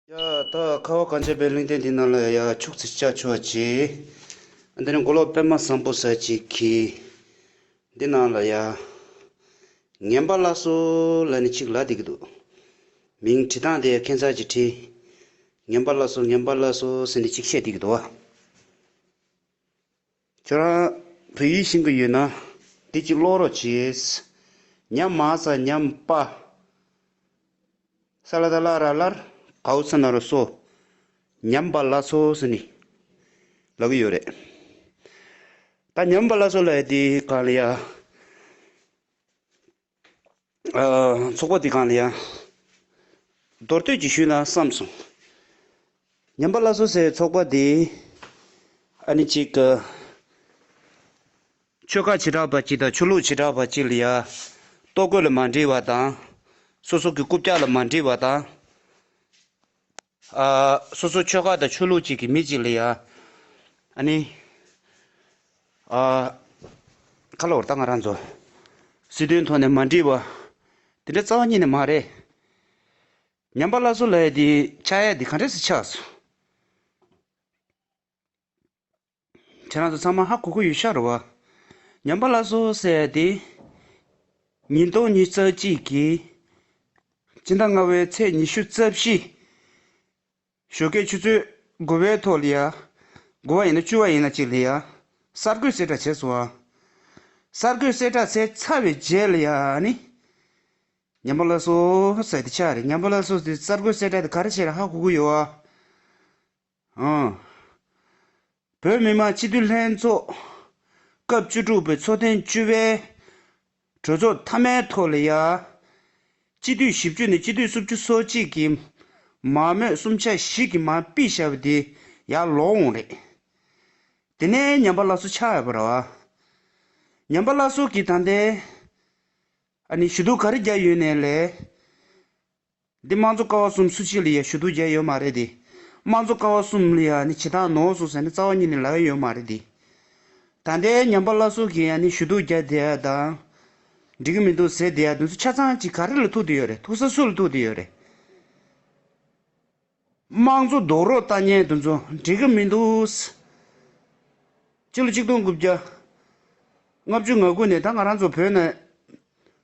ཡ། ད་ཁ་བ་གངས་ཅན་པའི་གླིང་སྟེང་འདི་ན་ལ་ཡ། ཕྱུགས་རྫི་ལྕགས་ཕྱུ་བ་ཅི། འདི་ནི་མགོ་ལོག་པད་མ་བཟང་པོ་ཟ་ཅིག་གི། འདི་ན་ལ་ཡ། ངན་པ་བླ་སྲོ་ལ་ནི་ཅིག་ལ་དེ་གི་འདུག། མིང་བྲི་སྟངས་དེ་ཁྱད་མཚར་གྱི་བྲི། ངན་པ་བླ་སྲོ་ངན་པ་བླ་སྲོ་ཟེར་ནི་ཅིག་བཤད་དེ་གི་འདུག་བ། ཁྱོད་རང་བོད་ཡིག་ཤེས་ཀྱི་ཡོད་ན་དེ་གཅིག་ཀློག་རོགས་བྱོས། ཉམས་མ་ས་ཉམས་པ། ས་ལ་ད་ལ་ར་ལར་གའུ་ས་ན་རུ་སོ། ཉམས་པ་ལ་སོ་ཟེར་ནི་ལབ་ཀྱི་ཡོད་རེད། ད་ཉམས་པ་ལ་སོ་ལ་ཡ་དེ་གང་ལ་ཡ། ཚོགས་པ་འདི་གང་ལ་ཡང་མདོར་བསྟོད་ཀྱིས་ཞུས་ན་བསམས་སོང། ཉམས་པ་བླ་སྲོག་ཟེར་བའི་ཚོགས་པ་འདི། ཨ་ནི་གཅིག་གི། ཆོལ་ཁ་བྱེ་བྲག་པ་གཅིག་དང་ཆོས་ལུགས་བྱེ་བྲག་པ་གཅིག་ལ་ཡང། ལྟོ་གོས་ལ་མ་འདྲིས་བ་དང། སོ་སོ་གི་རྐུབ་བཀྱག་ལ་མ་འདྲིས་བ་དང། སོ་སོའི་ཆོལ་ཁ་དང་ཆོས་ལུགས་གཅིག་གི་མི་གཅིག་ལ་ཡང། ཨ་ནི། ཁ་ལོ་བར་ད་ང་རང་ཚོ། སྲིད་དོན་ཐོག་ནས་མ་འདྲིས་པ། དེ་འདྲ་རྩ་བ་ཉིད་ནས་མ་རེད། ཉམས་པ་སླར་གསོ་ལ་ཡ་དེ་ཆགས་ཡ་དེ་ག་འདྲས་སུ་ཆགས་སོ། ཁྱེད་རང་ཚོ་ཚང་མ་ཧ་གོ་གི་ཡོད་ཤག་རེད་བ། ཉམས་པ་ལ་སོ་ཟེར་དེ། ཉིས་སྟོང་ཉིས་རྩ་གཅིག་གི་སྤྱི་ཟླ་ལྔ་བའི་ཚེས་ཉི་ཤུ་རྩ་བཞི། ཞོ་སྐད་ཆུ་ཚོད་དགུ་བའི་ཐོག་ལ་ཡ། དགུ་བ་ཡིན་ན་བཅུ་བ་ཡིན་ན་གཅིག་ལ་ཡ། གསར་འགོད་གསལ་བསྒྲགས་བྱས་སོང་བ། གསར་འགོད་གསལ་བསྒྲགས་བྱས་ཚར་བའི་རྗེས་ལ་ཡ་ནི། ཉམས་པ་ལ་སོ་ཟེར་དེ་ཆགས་རེད་ཉམས་པ་ལ་སོ་ཟེར་གསར་འགོད་གསལ་བསྒྲགས་དེ་ག་རེ་བྱས་ར་ཧ་གོ་གི་ཡོད་བ། བོད་མི་མང་སྤྱི་འཐུས་ལྷན་ཚོགས་སྐབས་བཅུ་དྲུག་པའི་ཚོགས་ཐེངས་བཅུ་པའི་གྲོས་ཚོགས་མཐའ་མའི་ཐོག་ལ་ཡང། སྤྱི་འཐུས་བཞི་བཅུ་ནས་སྤྱི་འཐུས་སུམ་ཅུ་སོ་གཅིག་གིས་མང་མོས་གསུམ་ཆ་བཞི་གི་མང་དཔེ་བྱ་བ་དེ་ཡང་ལོག་འོང་རེད། དེ་ནས་ཉམས་པ་བླ་བསོ་ཆགས་ཡོད་པ་རེད། ཉམས་པ་བླ་བསོ་གིས་ད་ལྟའི་ཞུ་གཏུག་ག་རེ་རྒྱག་ཡོད་ནས་ལས། འདི་དམངས་གཙོ་ཀ་བ་གསུམ་སུ་གཅིག་ལ་ཡ་ཞུ་དུག་བརྒྱ་ཡོད་མ་རེད་དེ། དམངས་གཙོ་ཀ་བ་གསུམ་ལ་ཡ་ནི་བྱེ་ཐང་ནོག་སོགས་ཟེར་ནི་རྩ་བ་གཉིས་ནི་ལ་ཡ་ཡོད་མ་རེད་དེ། ད་ལྟའི་ཉམས་པ་བླ་སྲོག་གིས་ཡ་ནི་ཞུ་དུག་བརྒྱ་དེ་ཡ་དང། འགྲིག་གི་མི་འདུག་ཟེར་དེ་ཡ་དེ་ཚོ་ཆ་ཚང་གཅིག་ག་རེ་ལ་ཐུག་དེ་ཡོད་རེད་ཐུག་ས་སུ་ལ་ཐུག་དེ་ཡོད་རེད། དམངས་གཙོ་རྡོག་རོགས་ལྟ་ཉན་དུ་འཛོ་འགྲིག་གི་མི་འདུག། སྤྱི་ལོ་གཅིག་སྟོང་དགུ་བརྒྱ་ལྔ་བཅུ་ང་དགུ་ནས་ད་ང་རང་ཚོ་བོད་ནས་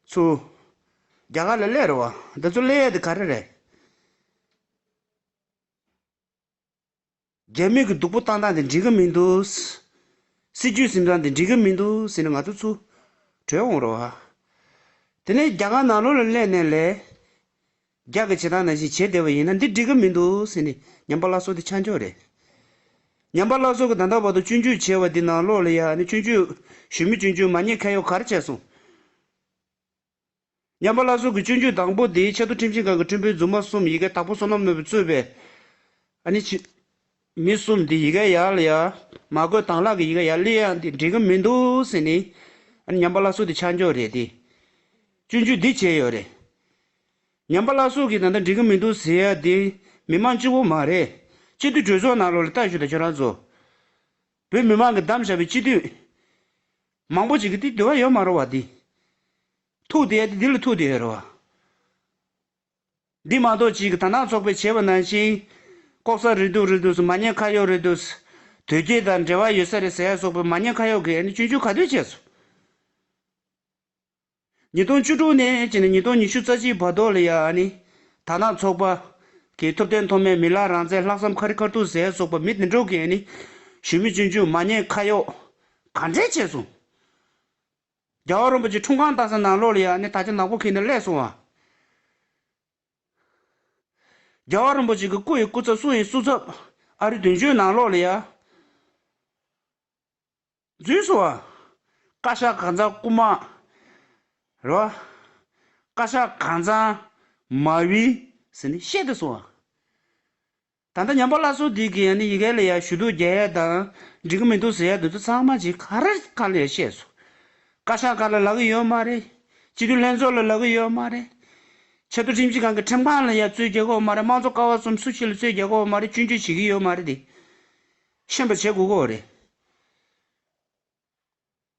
ཚུ་རྒྱ་གར་ལ་གླས་རེད་བ་འདི་ཚོ་གླས་ཡས་དེ་ག་རེ་རེད། རྒྱ་མི་གི་སྡུག་པོ་བཏང་སྟངས་དེ་འགྲིག་གི་མི་འདུག། སྲིད་ཇུས་ཟིན་སྟངས་དེ་འགྲིག་གི་མི་འདུག་ཟེར་ནས་ང་ཚོ་ཚུ་བྲོས་འོང་རོགས། དེ་ནས་རྒྱ་གར་ནང་ལོགས་ལ་གླས་ནས་ལས། རྒྱག་གི་བྱེད་སྟངས་ནང་བཞིན་བྱས་བསྡད་པ་ཡིན་ན་འདི་འགྲིག་གི་མི་འདུག་ཟེར་ནས་ཉམས་པ་སླར་གསོ་དེ་ཆ་འཇོག་རེད། ཉམས་པ་སླར་གསོ་གི་ད་ལྟ་བར་དུ་སྤྱོད་འཇུག་བྱས་བ་འདི་ནང་ལོགས་ལ་ཡ་ནི་སྤྱོད་འཇུག་ཞུས་མི་སྤྱོད་འཇུག་མ་རྙེད་ཁ་ཡོག་གར་བྱས་སོང། ཉམས་པ་སླར་གསོ་གི་སྤྱོད་འཇུག་དང་པོ་དེའི་ཆེད་དུ་ཁྲིམས་ཞིབ་ཁང་གི་ཁྲིམས་དཔོན་རྫུན་མ་གསུམ་ཡི་གེ་དག་པོ་བསོད་ནམས་ནོར་བུས་གཙོས་པའི། ཨ་ནི། མི་གསུམ་འདི་ཡི་གེ་ཡག་ལ་ཡག། མ་དགོས་དྭང་ལག་གི་ཡི་གེ་ཡག་ལི་ཡང་འདི་འགྲིག་གི་མི་འདུག་ཟེར་ནས། ཉམས་པ་བླ་སྲོག་འདི་ཆ་འཇོག་རེད་དེ། སྤྱོད་འཇུག་འདི་བྱས་ཡོད་རེད། ཉམས་པ་བླ་སྲོག་གིས་ད་ལྟ་འགྲིག་གི་མི་འདུག་ཟེར་ཡ་འདི་མི་མང་སྤྱི་བོ་མ་རེད། སྤྱི་འཐུས་གྲོས་ཚོགས་ནང་ལོག་ལ་ལྟ་ཞུ་དང་ཁྱོད་རང་ཚོ། བོད་མི་མང་གི་གདམ་བཞག་པའི་སྤྱི་འཐུས། མང་པོ་ཅིག་གིས་འདི་འདུལ་བ་ཡོད་མ་རུང་བ་འདི། ཐུག་འདི་ཡ་འདི་འདི་ལ་ཐུག་འདི་ཡོད་རུང་བ། འདི་མ་གཏོགས་ཅི་གི་དར་ནག་ཚོགས་པའི་བྱེད་པ་ནང་བཞིན། ལྐོག་ཟ་རེད་འདུག་རེད་འདུག་མ་ཉེས་ཁ་ཡོག་རེད་འདུག། དོལ་རྒྱལ་དང་འབྲེལ་བ་ཡོད་ས་རེད་ཟེར་ཡ་སོགས་པའི་མ་ཉེས་ཁ་ཡོག་གིས་ཨ་ནི་བཅོས་འཇུག་ག་དུས་བྱས་སོང། ཉིས་སྟོང་བཅུ་དྲུག་ནས་བྱས་ནས་ཉིས་སྟོང་ཉི་ཤུ་རྩ་གཅིག་བར་དོ་ལ་ཡང་ཨ་ནི། དར་ནག་ཚོགས་པ། གིས་ཐུབ་བསྟན་མཐོ་དམན་མི་ལ་རང་བཙན་ལྷག་བསམ་ཁ་རི་ཁར་ཐུག་ཟེར་ཡ་སོགས་པ་མི་དེ་འདྲོག་གིས་ཨ་ནི། གཞོན་མི་བཅོས་འཇུག་མ་ཉེས་ཁ་ཡོག། ག་འདྲས་བྱས་སོང། རྒྱལ་བ་རིན་པོ་ཆེ་འཁྲུངས་གང་བཏགས་ས་ནང་ལོགས་ལ་ཡག་ནས་ད་ཆ་ནག་པོ་ཁེངས་ནས་བསླད་སོང་བ། རྒྱལ་བ་རིན་པོ་ཆེ་གི་སྐུ་ཡི་སྐུ་ཚབ་སྲུང་ཡི་སྲུ་ཚབ། ཨ་རི་དོན་གཅོད་ནང་ལོགས་ལ་ཡག། རྫུན་བཟོ་བ། བཀའ་ཤག་གང་ཚང་རྐུ་མ། རེད་བ། བཀའ་ཤག་གང་ཚང། མ་བི། ཟེར་ནས་བཤད་དེ་སོང་བ། ད་ལྟ་ཉམས་པ་སླར་གསོ་དེ་གིས་ཡང་ནི་ཡི་གེ་ལ་ཡར་ཞུ་གཏུག་རྒྱ་ཡལ་དང། འགྲིག་གི་མི་འདུག་ཟེར་ཡ་འདུག་ད་ཚང་མ་ཇི་ག་ར་ག་ལ་ཡར་བཤད་སོང། བཀའ་ཤག་ག་ལ་ལག་གི་ཡོད་མ་རེད། སྤྱི་འཐུས་ལྷན་ཚོགས་ལ་ལག་གི་ཡོད་མ་རེད། ཆེ་མཐོ་ཁྲིམས་ཞིབ་ཁང་གི་ཁྲིམས་ཁང་ལ་ཡར་རྩོད་རྒྱག་གོ་མ་རེད་དམངས་གཙོ་ཀ་བ་གསུམ་སུ་ཞིག་ལ་རྩོད་རྒྱག་གོ་མ་རེད་བཅུན་གཅོད་བྱེད་ཀྱི་ཡོད་མ་རེད་དེ། ཤེས་པར་བྱེད་དགོས་གོ་རེད།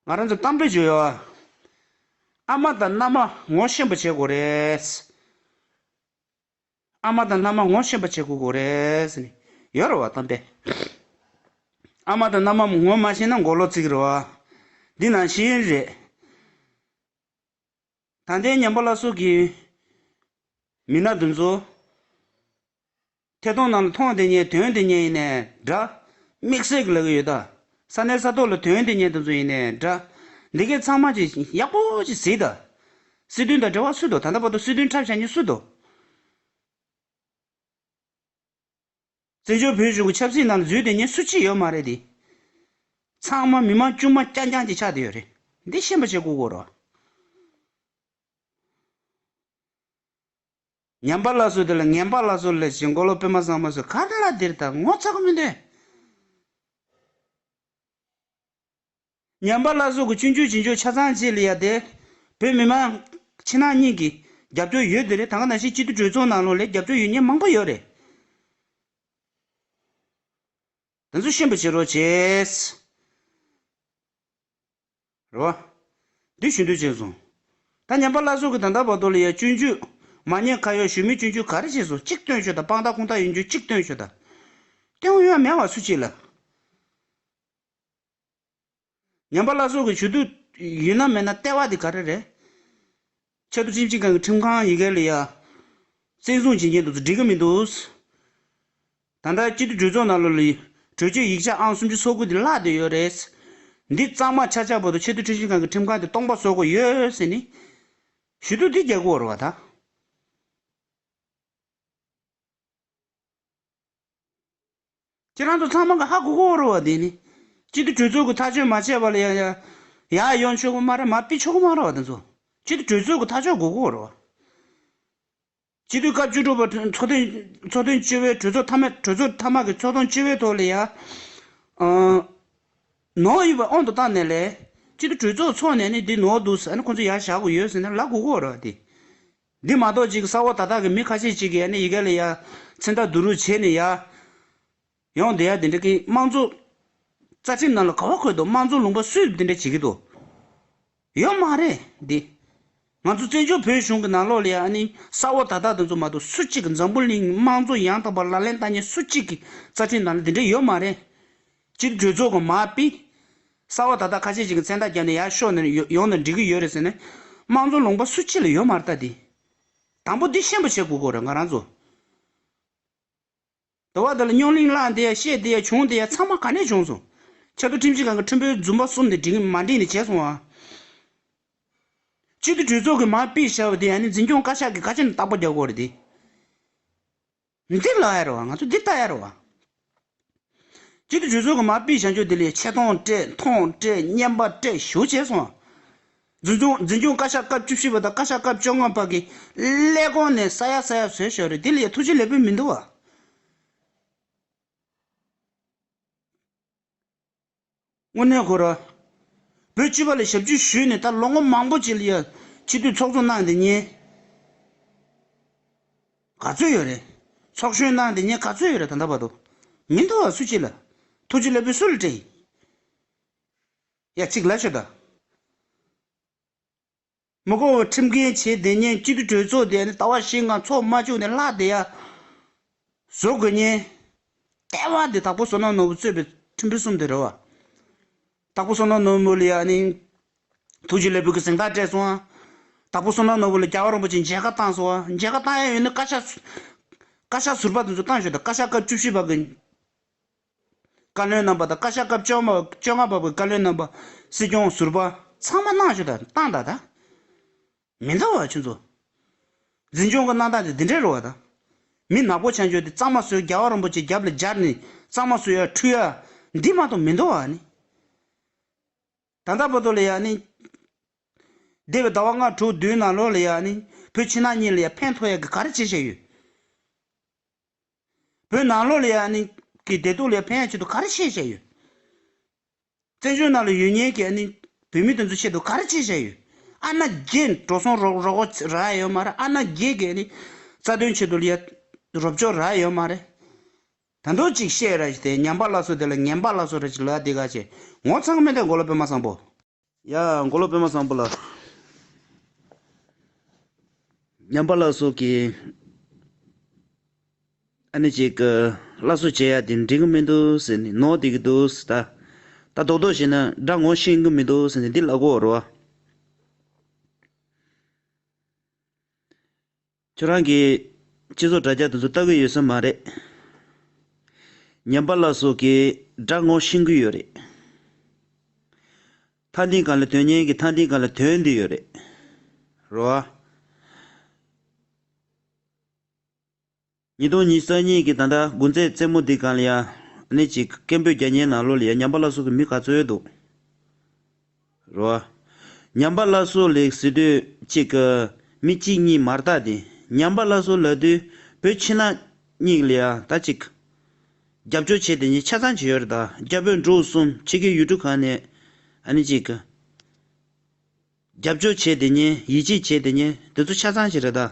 ང་རང་ཚོ་གཏམ་དཔེ་བརྗོད་ཡོད། ཨ་མ་དང་མནའ་མ་ངོ་ཤེས་པར་བྱེད་དགོས་རེད། ཨ་མ་དང་མནའ་མ་ངོ་ཤེས་པ་བྱེད་དགོས་གོ་རེད། ཡོད་རེད་བ་དམ་པས། ཨ་མ་དང་མནའ་མ་ངོ་མ་ཤེས་ན་མགོ་ལོག་བརྩིགས་རེད་བ། འདི་ནང་བཞིན་རེད། ད་ལྟའི་ཉམས་པ་བླ་སྲོག་གི་མི་སྣ་འདི་ཚོ། ཐད་གཏོང་ནང་ལ་ཐོང་དེ་ཉལ་དོན་དེ་ཉལ་ཡིན་ནའི་འདྲ། དམིགས་བསལ་གྱི་ལ་གི་ཡོད་ད། ས་གནས་ས་ཐོག་ལ་དོན་དེ་ཉལ་དེ་ཚོ་ཡིན་ནའི་འདྲ། འདི་གའི་ཚང་མ་གྱིས་ཡག་པོ་གྱིས་གཟིགས་ད། སྲིད་དོན་དང་འབྲེལ་བ་སུ་དོ་ད་ད་པ་དོ་སྲིད་དོན་འཁྲབ་བྱ་ཉིན་སུ་དོ། བཙན་བྱོལ་བོད་གཞུང་གི་ཆབ་སྲིད་ནང་ལ་འཛུལ་དེ་ཉིན་སུ་ཅི་ཡོད་མ་རེད་དེ། ཚང་མ་མི་མང་དཀྱུས་མ་རྐྱང་རྐྱང་གཅིག་ཆགས་དེ་ཡོད་རེད། འདི་ཤེས་པ་ཆེ་གུ་གུ་རོ། ཉམས་པ་ལ་སོ་དེ་ལ་ངན་པ་ལ་སོ་ལས་བྱེད་འགོ་ལོག་དཔེ་མ་བཟང་མ་སོ་ག་ལ་དེར་ད་ངོ་ཚ་གི་མི་འདུག། ཉམས་པ་བླ་སྲོག་གི་སྤྱོད་འཇུག་བྱེད་འཇུག་ཆ་ཚང་བཅས་ལས་ཡ་དེ། བོད་མི་མང། ཕྱི་ནང་གཉིས་ཀྱི། རྒྱབ་སྐྱོར་ཡོད་དེ་རེད་ད་ག་ནང་བཞིན་སྤྱི་འཐུས་གྲོས་ཚོགས་ནང་ལོག་ལས་རྒྱབ་སྐྱོར་ཡོད་ཉེས་མང་པོ་ཡོད་རེད། དེ་ཚོ་ཤེས་པ་བྱེད་རོགས་བྱེས། རེད་བ། འདི་ཞུ་འདོད་བྱས་སོང། ད་ཉམས་པ་བླ་སྲོག་གི་ད་ལྟ་བར་དོ་ལ་ཡ་སྤྱོད་འཇུག། མ་ཉེས་ཁ་ཡོག་ཞུ་མི་སྤྱོད་འཇུག་ག་རེ་བྱས་སོང་གཅིག་སྟོན་ཤོག་ད་དཔང་རྟགས་ཁུངས་རྟགས་ཡོད་འཇུག་གཅིག་སྟོན་ཤོག་ད། སྟོན་ཡོད་མེད་བ་སུ་བྱེད་ལ། ཉམས་པ་བླ་སྲོག་གི་ཞུ་གཏུག་ཡིན་ནམ་མེད་ན་ལྟེ་བ་དེ་ག་རེ་རེད། ཆབ་སྲིད་སྤྱི་ཁང་གི་ཁྲིམས་ཁང་ཡི་གེ་ལ་ཡང་བཙན་བཟུང་བྱེད་ཀྱིན་འདུག་འགྲིག་གི་མི་འདུག། ད་ལྟ་སྤྱི་འཐུས་གྲོས་ཚོགས་ནང་ལོ་ལིའི་གྲོས་ཆོད་ཡིག་ཆ་ཨང་སུམ་ཅུ་སོ་དགུ་དེ་བཀླགས་བསྡད་ཡོད་རེད། འདི་གཙང་མ་ཆགས་ཆགས་པོ་དང་ཆེས་མཐོའི་ཁྲིམས་ཞིབ་ཁང་གི་ཁྲིམས་ཁང་དེ་སྟོང་པ་བཟོ་དགོས་ཡོད་ཟེར་ནི། ཞུ་གཏུག་འདི་རྒྱག་དགོས་བ་རེད་བ་ད། ཁྱེད་རང་ཚོ་ཚང་མ་གི་ཧ་གོ་གོ་རོ་བ་དེ་ནི། གཅིག་གི་གྲོས་ཚོགས་ཀྱི་ཐག་གཅོད་མ་བྱས་པ་ལ་ཡང་ཡང། ཡ་ཡོང་ཆོག་གི་མ་རེད་མ་སྤི་ཆོག་གི་མ་རེད་བ་དེ་ཚོ། གཅིག་གི་གྲོས་ཚོགས་ཀྱི་ཐག་གཅོད་གོ་གོ་རོ་བ། སྤྱི་འཐུས་སྐབས་བཅུ་དྲུག་པ་ཚོགས་ཐེངས་ཚོགས་ཐེངས་བཅུ་བའི་གྲོས་ཚོགས་མཐའ་མ་གྲོས་ཚོགས་མཐའ་མ་གི་ཚོགས་ཐོངས་བཅུ་བའི་ཐོག་ལ་ཡ། ནོར་ཡོད་པ་ཨང་དུ་བཏང་ནས་ལས། གཅིག་གི་གྲོས་ཚོགས་ཚོགས་ནས་ནི་འདི་ནོར་འདུག་ཟེར་ན་ཁོང་ཚོ་ཡ་བཞག་གོ་ཡོད་ཟེར་ན་ལ་གོ་གོ་རོ་བ་དེ། འདི་མ་གཏོགས་ཅིག་ས་འོག་ད་དག་གི་མི་ཁ་ཤས་ཅིག་གིས་ཡ་ནི་ཡི་ག་ལས་ཡ། ཚེ་མདའ་བསྡུ་རུག་བྱས་ནས་ཡ། ཡོང་བསྡད་ཡ་དེ་འདྲ་གི་དམངས་གཙོ། རྩ་ཁྲིམས་ནང་ལ་ག་བ་འཁོད་འདུག་དམངས་གཙོ་ལུང་པ་སུས་དེ་འདྲ་བྱེད་ཀྱི་འདུག། ཡོད་མ་རེད་དེ། ང་ཚོ་བཙན་བྱོལ་བོད་གཞུང་གི་ནང་ལོགས་ལ་ཡ་ནི་ས་འོག་ད་དག་དེ་ཚོ་མ་གཏོགས་སུ་གཅིག་གི་འཛམ་བུ་གླིང་གི་དམངས་གཙོ་ཡང་དག་པར་ལག་ལེན་བསྟར་མཁན་སུ་གཅིག་གི་རྩ་ཁྲིམས་ནང་ལ་དེ་འདྲ་ཡོད་མ་རེད། སྤྱིར་གྲོས་ཚོགས་ཀྱི་མ་དཔེ་གསར་བ་ད་ལྟ་ཁ་ཤས་ཤིག་གི་མཚན་རྟགས་བརྒྱབ་ནས་ཡར་ཤོག་ནས་ཡོང་ནས་འབྲི་གི་ཡོད་རེད་ཟེར་ནས། དམངས་གཙོ་ལུང་པ་སུ་གཅིག་ལ་ཡོད་མ་རེད་ད་དེ། དང་པོ་འདི་ཤེས་པོ་བྱེད་དགོས་དགོས་རེད་ང་རང་ཚོ། དེ་བ་དེ་ལ་རྙོག་གླིང་བསླངས་དེ་ཡ་བཤད་དེ་ཡ་བྱུང་དེ་ཡ་ཚང་མ་ག་ནས་བྱུང་སོང། ཆབ་མདོ་ཁྲིམས་ཞིབ་ཁང་གི་ཁྲིམས་དཔོན་རྫུན་པ་གསུམ་དེ་འགྲིག་མ་འགྲིག་ནི་བྱས་སོང་ཨ། སྤྱིར་དུ་གྲོས་ཚོགས་ཀྱི་མ་དཔེ་བྱ་བ་དེ་ཡ་ནི་འཛིན་སྐྱོང་བཀའ་ཤག་གི་བཀའ་ཆད་ནི་རྟག་པ་རྒྱག་དགོས་རེད་དེ། མི་འདི་ལ་ཡར་བ་ང་ཚོ་འདི་ལྟ་ཡར་བ། གཅིག་ཏུ་འཇུ་ཚོད་ཀྱི་མ་དཔེའི་བྱང་ཆུབ་དེ་ལས་ཆེ་མཐོང་སྤྲད་མཐོང་སྤྲད་བསྙེན་པ་སྤྲད་བཞུགས་བྱས་སོང། འཛིན་སྐྱོང་འཛིན་སྐྱོང་བཀའ་ཤག་སྐབས་བཅུ་བཞི་པ་དང་བཀའ་ཤག་སྐབས་བཅོ་ལྔ་བར་གྱི་ཀླད་གོང་ནས་ས་ཡ་ས་ཡ་བཟོས་ཞོག་རེད་དེ་ལས་ཐུགས་རྗེ་ལེགས་པོ་མི་འདུག་བ། དངོས་གནས་ཁོ་རང། བོད་སྤྱི་བ་ལས་ཞབས་ཅུ་ཞུས་ནས་ད་ལོ་ངོ་མང་པོ་བྱས་ལ་ཡ། ཕྱི་སྡོད་ཚོགས་ཆུང་གནང་དེ་ཉེས། ག་ཚོད་ཡོད་རེད། ཚོགས་གཞོན་གནང་དེ་ཉེས་ག་ཚོད་ཡོད་རེད་ད་ལྟ་བར་དུ། མི་འདུག་བ་སུ་བྱེད་ལ། ཐུགས་རྗེ་ལེགས་པོས་སུ་ལ་སྤྲད་ཡིན། ཡ་གཅིག་ལ་ཤོད་ད། མི་དགོ་བའི་ཁྲིམས་འགལ་བྱས་བསྡད་ཉེན་གཅིག་གི་གྲོས་ཚོགས་དེ་ལྟ་བ་ཞིག་ང་ཚོ་མ་བཅུག་ནས་ལྷག་བསྡད་ཡ་བཟོ་དགོས་ཉེན། ལྟད་བ་དེ་དྭགས་པོ་བསོད་ནམས་ནོར་བུ་གཙོས་པའི་ཁྲིམས་དཔོན་གསུམ་དེ་རེད་བ། དྭགས་པོ་བསོད་ནམས་ནོར་བུ་ལ་ཡ་ནི་ཐུགས་རྗེ་ལས་བུ་གི་གཟེངས་རྟགས་སྤྲད་སོང་བ། དྭགས་པོ་བསོད་ནམས་ནོར་བུ་ལ་རྒྱ་བ་རིན་པོ་ཆེ་མཇལ་ཁ་བཏང་སོང་བ་མཇལ་ཁ་བཏང་ཡ་ཡོད་ནི་བཀའ་ཤག་བཀའ་ཤག་ཟུར་པ་དེ་ཚོ་བཏང་ཞོག་དེ་བཀའ་ཤག་སྐབས་བཅུ་བཞི་པ་གི། བཀའ་བློན་རྣམ་པ་དང་བཀའ་ཤག་སྐབས་བཅོ་བཅོ་ལྔ་པ་པོའི་བཀའ་བློན་རྣམ་པ། སྲིད་སྐྱོང་ཟུར་པ། ཚང་མ་གནང་ཞུ་དང་བཏང་དང་དང། མི་འདང་བ་ཆུ་མཛོད། འཛིན་སྐྱོང་གི་གནང་སྟངས་དེ་འདི་འདྲས་རུ་བ་དང། མི་ནག་པོ་བྱང་ཆུ་དེ་གཙང་མ་བཟོས་རྒྱལ་བ་རིན་པོ་ཆེ་རྒྱབ་ལ་སྦྱར་ནས་གཙང་མ་བཟོས་ཡ་འཁྲུ་ཡ། འདི་མ་གཏོགས་མི་འདང་བ་ནི། ད་ལྟ་བོ་དོ་ལ་ཡ་ནི། འདས་པའི་ཟླ་བ་ལྔ་དྲུག་བདུན་ནང་ལོགས་ལ་ཡ་ནི། བོད་ཕྱི་ནང་གཉིས་ལ་ཡ་ཕན་ཐོགས་ཡ་གི་ག་རེ་བྱེད་བཞིན་ཡོད། བོད་ནང་ལོགས་ལས་ཨ་ནི་གི་བདེ་སྡུག་ལས་ཕན་ཡག་ཆེད་དུ་ག་རེ་བྱས་བྱས་ཡོད། བཙན་བྱོལ་ནང་ལ་ཡོད་ཉེན་གྱི་ཨ་ནི་བོད་མི་དེ་ཚོ་ཆེད་དུ་ག་རེ་བྱས་བྱས་ཡོད། ཨ་ན་རྒྱས་འགྲོ་སོང་རོགས་རོགས་རོགས་རགས་ཡོད་མ་རེད་ཨ་ན་རྒྱས་གི་ཨ་ནི་རྩ་དོན་ཆེད་དུ་ལ་རོབ་ཅོག་རགས་ཡོད་མ་རེད། ད་འདུག་ཅིག་བཤད་ར་ཞིག་དེ་ཉམས་པ་ལ་སོ་དེ་ལ་ངན་པ་ལ་སོ་ར་ཅིག་ལ་དེ་ག་བྱས་ངོ་ཚང་མེད་དེ་མགོ་ལ་པད་མ་བཟང་པོ། ཡ། མགོ་ལོག་པད་མ་བཟང་པོ་ལ། ཉམས་པ་ལ་སོགས་ཀྱི། ཨ་ནི་ཅིག། བླ་གསོལ་བྱེད་ཡ་དེ་འགྲིག་གི་མི་འདུག་ཟེར་ནས་ནོར་བསྡད་ཀྱི་འདུག་ཟེར། ད་ལྟ་རྡོག་རྡོག་བྱས་ན་དགྲ་ངོ་ཤེས་ཀྱི་མི་འདུག་ཟེར་ནས་འདི་ལ་གོ་རོ། ཁྱོད་རང་གིས་སྤྱི་ཚོགས་དྲ་རྒྱ་དེ་ཚོ་ལྟ་གི་ཡོད་ས་མ་རེད། ཉམས་པ་ལགས་སོགས་ཀྱིས་དྲག་ངོ་ཤིང་གི་ཡོད་རེད། མཐའ་འདིང་ག་ལ་དོན་སྙན་གི་མཐའ་འདིང་ག་ལ་དོན་འདི་ཡོད་རེད། རོ་ཨ། ཉིས་སྟོང་ཉིས་ས་གཉིས་གི་ད་ལྟ་དགུན་རྩེད་རྩེད་མོ་འདི་གང་ལ་ཡང་གནས་གཅིག་སྐད་འབོད་རྒྱ་ཉན་ནང་ལོག་ལ་ཡ་ཉམས་པ་ལགས་སོགས་ཀྱི་མི་ག་ཚོད་འདུག། རོ། ཉམས་པ་བླ་སྲོག་ལེགས་སི་དུས་གཅིག་གི། མི་གཅིག་གཉིས་མར་བཏགས་ཏེ་ཉམས་པ་བླ་སྲོག་ལ་དུས་བོད་ཕྱི་ནང་གཉིས་ལ་ད་གཅིག། རྒྱབ་སྐྱོར་བྱས་དེ་ཉིད་ཆ་ཚང་བྱེད་ཡོད་རེད་ད་རྒྱ་བོད་འབྲུག་གསུམ་ཕྱི་རྒྱལ་ཡུལ་གྲུ་གང་ནས་ཨ་ནི་གཅིག། རྒྱབ་སྐྱོར་བྱས་དེ་ཉིད་ཡིད་ཆེས་བྱས་དེ་ཉིད་དེ་ཚོ་ཆ་ཚང་བྱེད་རེད་ད།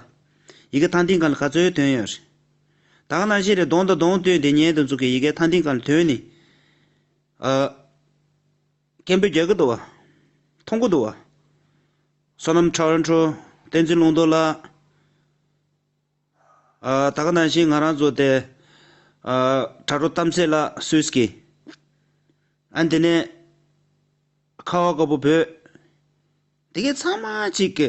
ཡི་གེ་ཐང་ཐིང་གང་ལ་ག་ཚོད་དོན་ཡོད་རེད། དང་ན་གཞི་རེ་གདོང་དང་གདོང་བསྟུན་དེ་ཉིད་དེ་ཚོ་གི་ཡི་གེ་ཐང་ཐིང་གང་ལ་དོན་ནི། སྐྱེན་པོའི་རྒྱལ་ཁབ་ཏུ་བ། མཐོང་གོ་ཏུ་བ། བསོད་ནམས་ཁྲ་བར་འཕྲོ། བསྟན་འཛིན་ལུང་རྟོགས་ལགས། ད་ག་ནང་བཞིན་ང་རང་ཚོ་དེ། དྲ་གྲོགས་གཏམ་ཚེས་ལགས་སུས་ཀྱི། ཨ་འདི་ནས། ཁ་བ་དཀར་པོ་བོད། དེ་གའི་ཚང་མ་གཅིག་གི།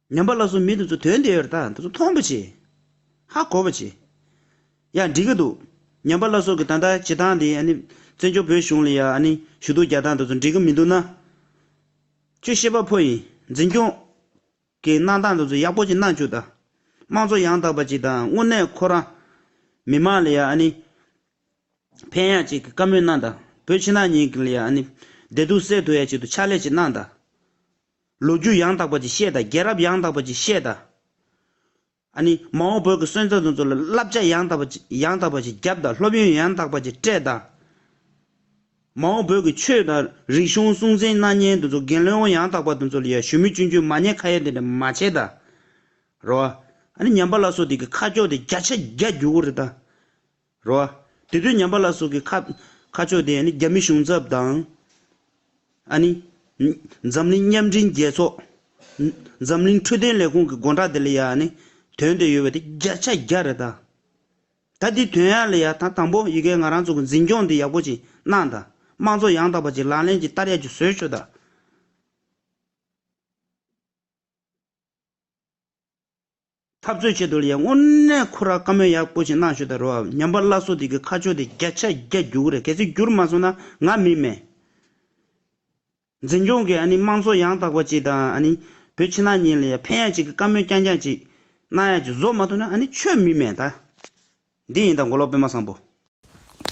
ཉམས་པ་ལ་སོགས་མི་དེ་ཚོ་དོན་དེ་ཡོད་རེད་ད་དེ་ཚོ་མཐོང་པོ་བྱེད། ཧ་གོ་བོ་བྱེད། ཡ་འགྲིག་གི་འདུག་ཉམས་པ་ལ་སོགས་ཀྱི་ད་ལྟ་བྱེད་སྟངས་དེ་ཨ་ནི་བཙན་བྱོལ་བོད་གཞུང་ལ་ཡ་ཨ་ནི་ཞུ་གཏུག་རྒྱག་སྟངས་དེ་ཚོ་འགྲིག་གི་མི་འདུག་ན། ཁྱོད་ཤེས་པ་ཕོ་ཡིན་འཛིན་སྐྱོང། གི་གནང་སྟངས་དེ་ཚོ་ཡག་པོ་ཅིག་གནང་བཅུག་ད། དམངས་གཙོ་ཡང་དག་པ་ཅིག་དང་དངོས་གནས་ཁོ་རང། མི་དམངས་ལ་ཡ་ཨ་ནི། ཕན་ཡག་ཅིག་གི་བཀའ་མོལ་གནང་ད་བོད་ཕྱི་ནང་གཉིས་ཀྱི་ལ་ཡ་ཨ་ནི། བདེ་སྡུག་སེལ་ཐུབ་ཡག་ཅིག་ཏུ་ཕྱག་ལས་ཅིག་གནང་ད། ལོ་རྒྱུས་ཡང་དག་པ་ཅིག་བཤད་དང་རྒྱལ་རབས་ཡང་དག་པ་ཅིག་བཤད་དང། ཨ་ནི་མ་འོངས་བོད་ཀྱི་སོན་རྩ་དེ་ཚོ་ལ་བསླབ་བྱ་ཡང་དག་པ་ཅིག་ཡང་དག་པ་ཞིག་བརྒྱབ་དང་སློབ་ཡོན་ཡང་དག་པ་ཅིག་སྤྲད་དང། མ་འོངས་བོད་ཀྱི་ཆོས་དང་རིག་གཞུང་སྲུང་འཛིན་གནའ་ཉན་དེ་ཚོ་རྒན་ལོན་ཡང་དག་པ་དེ་ཚོ་ལ་ཡང་ཞུམ་མེད་གཅུན་གཅུན་མ་ཉེས་ཁ་ཡ་དེ་འདྲ་མ་བྱེད་དང། རོ། ཨ་ནི་ཉམས་པ་ལ་སོགས་དེ་གི་ཁ་ཕྱོགས་དེ་བརྒྱ་ཆ་བརྒྱ་རྒྱུག་གོ་རེད་དང། རོ། དེ་དུས་ཉམས་པ་ལ་སོགས་ཀྱི་ཁ། ཁ་ཕྱོགས་དེ་ཡང་ནི་རྒྱ་མི་གཞུང་ཚབ་དང། ཨ་ནི། འཛམ་གླིང་མཉམ་འབྲེལ་རྒྱལ་ཚོགས། འཛམ་གླིང་འཕྲོད་བསྟེན་ལས་ཁུངས་ཀྱི་དགོངས་དག་དེ་ལ་ཡང་ནི། དོན་དེ་ཡོད་པ་དེ་བརྒྱ་ཆ་བརྒྱ་རེད་ད། ད་དེའི་དོན་ཡང་ལ་ཡ་ད་དང་པོ་ཡི་གེ་ང་རང་ཚོ་གི་འཛིན་སྐྱོང་འདི་ཡག་པོ་ཅིག་གནང་ད། དམངས་གཙོ་ཡང་དག་པ་ཅིག་ལག་ལེན་གྱི་བསྟར་ཡག་རྒྱུ་བཟོས་ཆོག་ད། འཐབ་རྩོད་ཆེད་དུ་ལ་ཡ་དངོས་གནས་ཁོ་རང་བཀའ་མོལ་ཡག་པོ་ཞིག་གནང་ཞོར་ད་རོ་ཉམས་པ་སླ་སོ་དེ་གི་ཁ་ཕྱོགས་དེ་བརྒྱ་ཆ་བརྒྱ་རྒྱུག་གི་རེད་གལ་སྲིད་བསྒྱུར་མ་སོང་ན་ང་མི་མེད། འཛིན་སྐྱོང་གི་ཨ་ནི་དམངས་གཙོ་ཡང་དག་པ་ཅིག་དང་ཨ་ནི་བོད་ཕྱི་ནང་གཉིས་ལ་ཡ་ཕན་ཡག་ཅིག་གི་བཀའ་མོལ་རྐྱང་རྐྱང་ཅིག་གནང་ཡག་ཅིག་བཟོ་མ་ཐུབ་ན་ཨ་ནི་ཆོས་མི་མེད་ད། འདི་ཡིན་ད་མགོ་ལོག་དཔོན་མ་བཟང་པོ།